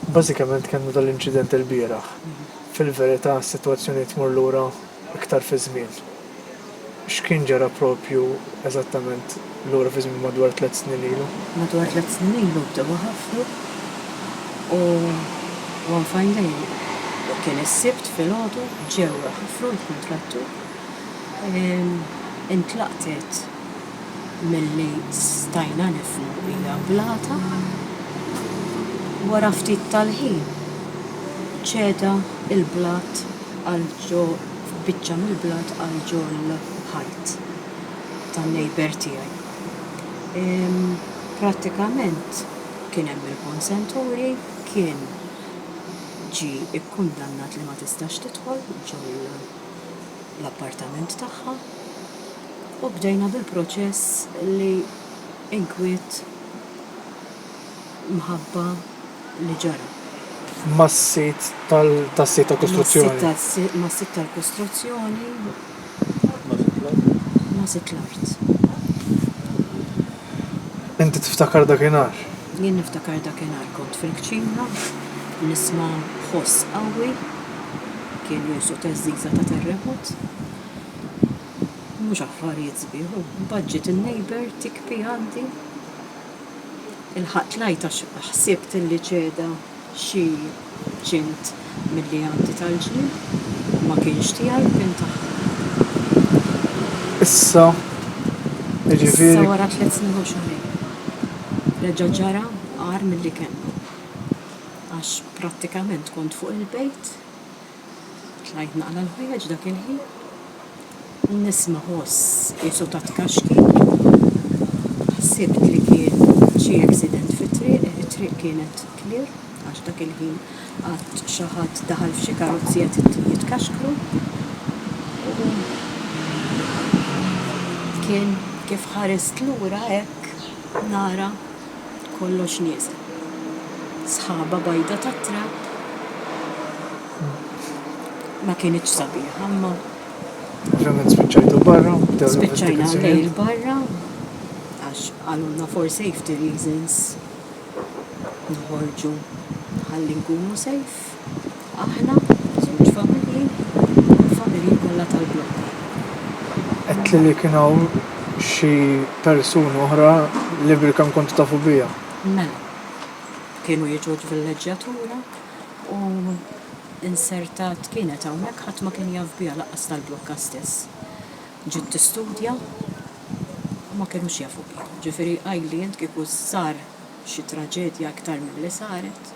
Bażikament kellna dan l-inċident ilbieraħ. Fil-verità s-sitwazzjoni tmur lura iktar fiż-żmien. X'kien ġara proprju eżattament lura fiż-żmien madwar tliet snin ilu? Madwar tliet snin ilu bdew iħaffru u one fine day, kien is-Sibt filgħodu, ġew iħaffru l-kuntrattur, intlaqtet, milli stajna nifhmu hija blata. Wara ftit tal-ħin ċeda l-blat għal biċċa mill-blat għal ġol ħajt tan-neighbour tiegħi. Prattikament kien hemm il-consent order, kien ġie kkundannat li ma tistax tidħol ġol l-appartament tagħha. U bdejna bil-proċess li inkwiet mħabba li ġara. Mas-sid tas-sit tal-kostruzzjoni. Mas-sid tal-kostruzzjoni. Ma' sid l-art. Ma' sid l-art. Inti tiftakar dakinhar? Jien niftakar dakinhar kont fil-kċina, nisma' ħoss qawwi, kien jgħosu theżżiża ta' terremot. Mhux affarijiet sbieħ, u budget in-neighbour tikpi għandi. Ilħaqt l-għajt għax ħsibt illi ċeda xi ċint milli għandi tal-ġnien. Ma kienx tiegħi, kien tagħhom. Issa, jiġifieri. Issa wara tliet snin u xahrejn, reġa' ġara agħar milli kellna. Għax prattikament kont fuq il-bejt. Tlajt naqra l-ħwejjeġ dak il-ħin u nisma' ħoss qisu ta' tkaxkir. Ħsibt li kien xi accident fit-triq, it-triq kienet clear għax dak il-ħin qatt xi ħadd daħal f'xi karozzi qed jitkaxkru u kien kif ħarist lura hekk nara. kollox nieżel. Sħaba bajda tat-trapp ma kinitx sabiħa imma. Finalment spiċċajtu barra? Spiċċajna lejl barra għax qalulna for safety reasons noħorġu ħalli nkunu safe. Aħna, żewġ familji u l-familji kollha tal-blokk. Għedtli li kien hawn xi persuni oħra li bilkemm kontu tafu bija. Mela. Kienu jiġu l-villeġġjatura u insertat kienet hawnhekk ħadd ma kien jaf biha lanqas tal-blokka stess. Ġiet tistudja u ma kinux jafu biha. Ġifieri qajli int kieku sar xi traġedja iktar milli saret.